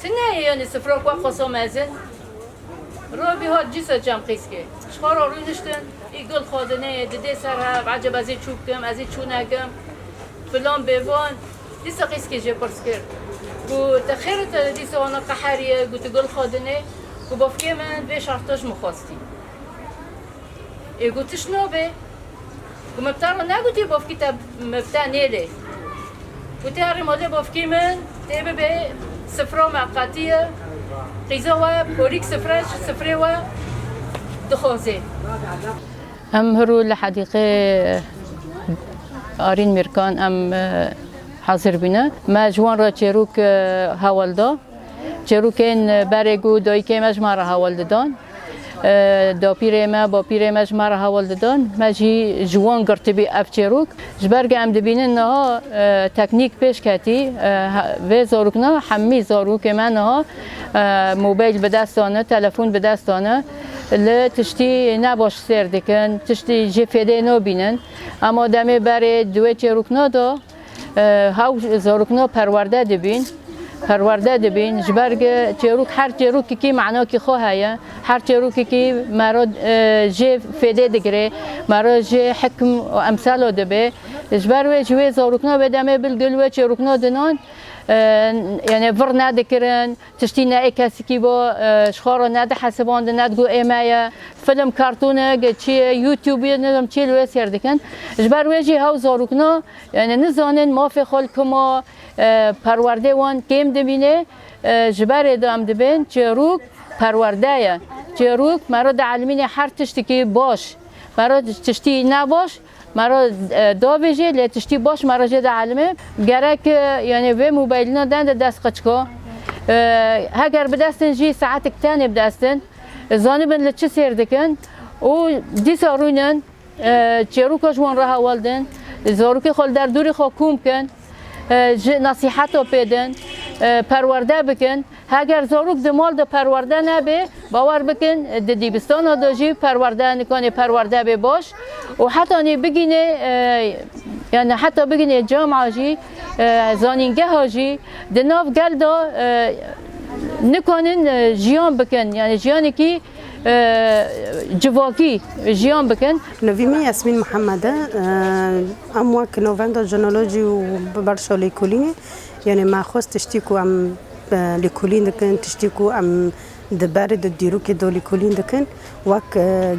Ti neyê yonî sifro ku xoso mezin ro bî hat cîso çem qîskê. Ji xwe re rûniştin î gul xwe di neyê di dê ser hev ecêb ez ê çû bikim ez ê çû nekim filan bê van. Dîsa qîskê jê pirs kir ku te xêrê te dîsa wana qeherîye ku tu gul xwe di nê ku bavkê min vê şerta ji min xwestî. Ê gotiş no be. Ku me bi te re negotî bavkî te me bi te nêlê. Ku te herî malê bavkî min tê bibe sifra me qetî ye. Qîza we porîk sifre ji sifrê we dixwaze. Em hirû li hedîqê Arîn Mîrkan em hezir bûne. Me ji wan re çêrok hewl da. Çêrokên berê ku dayikê me ji me re hewl didan. Dapîrê me, bapîrê me ji me re heval didin. Me jî ji wan girtibî ev çêrok. Ji ber ku em dibînin niha teknîk pêş ketî. Vê zarok ne hemî zarokê me niha mobeyl bi dest de ne, telefon bi dest de ne. Li tiştî ne baş sêr dikin, tiştî jê fêdê nabînin. Ema demê berê di wê çêrokna de Haw zarokno perwerde dibîn. Perwerde dibîn ji ber ki çêrok her çêrokekî manakî xwe heye. Her çêrokekî me re jê fêdê digirê, me re jê hikm û emsala dibê. Ji ber wê ji wê zarokna wê demê bilgul wê çêrokna dinan yani vir nedikirin. Tiştî ne ê kesikî bo, ji xwe re ne dihesibandin, ne digot ê me ye. Film, kartonek, çi ye, youtube ye, nizanim çi ye li wê sêr dikin. Ji ber wê jî hew zarokna yanî nizanin mafê xwe li ku ma perwerdê wan kêm dimîne. Ji berê de em dibên çêrok perwerde ye. Çêrok me re dielmîne her tiştekî baş. Me re tiştî ne baş Me re dabêjê lê tiştî baş me re jê de elime. Gerek yanê vê mobilîna den de dest qeçiko. Heger bidestin jî saetik tenê bidestin. Zanibin li çi sêr dikin û dîsa rûnin çêroka ji wan re hewl din. Zarokê xwe li derdorê xwe kom bikin. ji nasîheto pêdin, perwerde bikin. Heger zarok di mal de perwerde nebe, bawer bikin di dîbistana de jî perwerde nikanê perwerde bê baş û heta nê bigînê yani heta bigînê cama jî zanîngeha jî di nav gel de nikanin jiyan bikin yani jiyanekî civakî jiyan bikin. Nevî min Yasmîn Mihemed e. Em wek Novenda Jinolojî û bi berşa lêkolînê yanê me xwest tiştî ku em lêkolîn dikin, tiştî ku em di berê di dîrokê de lêkolîn dikin wek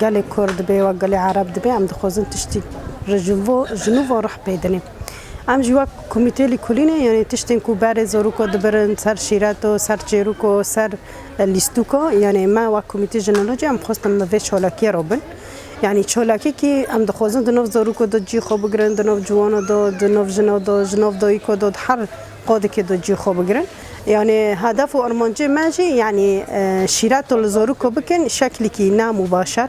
gelê Kurd dibe, wek gelê Ereb dibe em dixwazin tiştî ji nû ve ruh pê dinê. Em jî wek komîteyê lêkolînê yanê tiştên ku berê zarok dibirin ser şîreto, ser çêroko, ser lîstûka yanê me wek komîtê jinolojî em xwestin bi vê çolakiyê re bin. Yanî çolakekî em dixwazin di nav zaroko de cî xwe bigirin, di nav ciwana de, di nav jina de, ji nav dayika de, di her qadekê de cî xwe bigirin. Yanê hedef û armancê me jî yanî şîreto li zaroko bikin şeklekî nam û başer.